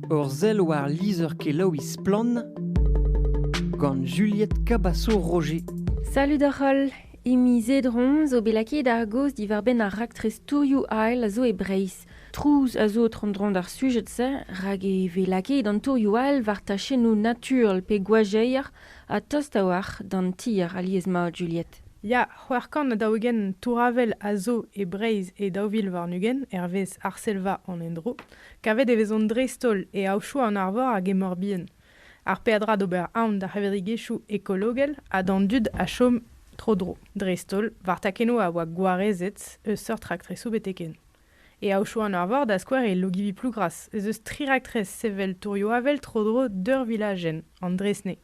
Ur sell war lizher-kelaouiñ Splann! gant Juliette Cabasso-Roger. Salud oc'h holl! Imi Zedron zo bet lakaet ar gaoz diwar-benn ar raktres tourioù ail a zo e Breizh. Trouz a zo tro-dro d'ar sujed-se rak e vez lakaet an tourioù ail war tachennoù naturel pe gwajeier ha tost a-walc'h d'an tier alies-mat Juliette. Ya, c'hwec'h kant ha daou-ugent tour-avel a zo e Breizh e daou vil warn-ugent, hervez Arsellva an Endro. Kavet e vezont dreist-holl e aochoù an arvor hag e Morbihan. Ar peadra d'ober aon d'ar c'hevredigezhioù ekologel ha d'an dud a chom tro-dro, dreist-holl war takennoù a oa gwarezet eus seurt raktresoù betek-hen. E aochoù an arvor, da skouer e Logivi-Plougras, ez eus tri raktres sevel tourioù-avel tro-dro d'ur vilajenn, an Dresnay.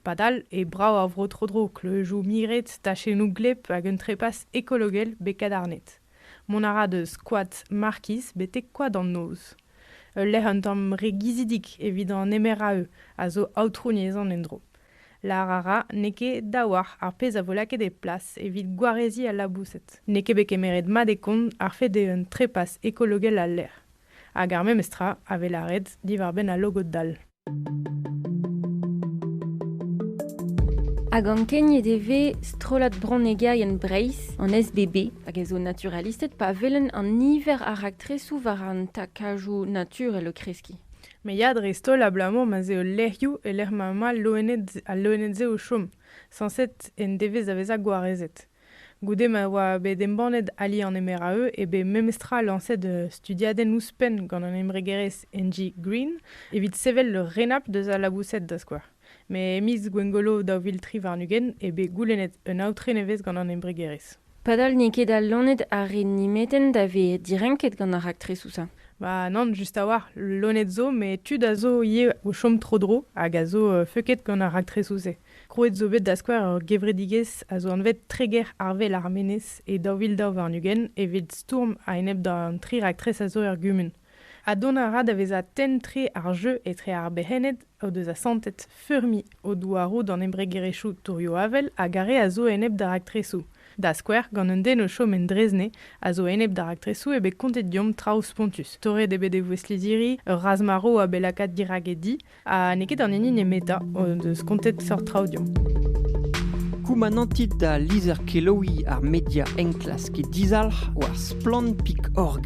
Padal eo brav ar vro tro-dro, kleujoù miret, tachennoù gleb hag un trepas ekologel bet kadarnet. Mont a ra deus koad Markiz betek koad an Noz, ul lec'h un tamm re gizidik evit an emeraü a zo aotrouniezhan en-dro. Lâr a ra n'eo ket daouarc'h ar pezh a vo lakaet e plas evit gwareziñ al laboused. N'eo ket bet kemeret mat e kont ar fed eo un trepas ekologel al lec'h, hag ar memes tra a vez lâret diwar-benn al logod dall. Hag ankeniet e vez strollad bronnegerienn Breizh, an SBB, hag a zo naturalistet pa welenn an niver a raktresoù war an takajoù naturel o kreskiñ. Me ya dreist-holl abalamour ma'z eo lec'hioù e lec'h ma emañ al loened, al loened-se o chom, sañset en devez da vezañ gwarezet. Goude ma oa bet embannet Ali an Emeraeux eo bet memestra lañset studiadenn ouzhpenn gant an embregerezh Engie Green evit sevel ur renabl deus al laboused da skouer. Met e miz Gwengolo daou vil tri warn-ugent eo bet goulennet un aotre nevez gant an embregerezh. Padal n'eo ket al loened a re nemetenn da vez direnket gant ar raktresoù-se. Ba nann, just a-walc'h, loened zo met tud a zo ivez o chom tro-dro hag a zo feuket gant ar raktresoù-se. Krouet zo bet da skouer ur gevredigezh a zo anvet Treger Arvel ar Menez e daou vil daou warn-ugent evit stourm a-enep d'an tri raktres a zo er gumun. Ha dont a ra da vezañ tenn-tre ar jeu etre ar berc'henned o deus asantet feurmiñ o douaroù d'an embregerezhioù tourioù-avel hag ar re a zo enep d'ar raktresoù, da skouer gant un den o chom en Drezne a zo enep d'ar raktresoù eo bet kontet deomp traoù spontus. Torret eo bet e vouezh lizhiri ur razh-marv a bet lakaat dirak e di Ha n'eo ket an hini nemetañ o deus kontet seurt traoù deomp. Koumanantit da lizher-kelaouiñ ar media enklask dizalc'h war splann.org.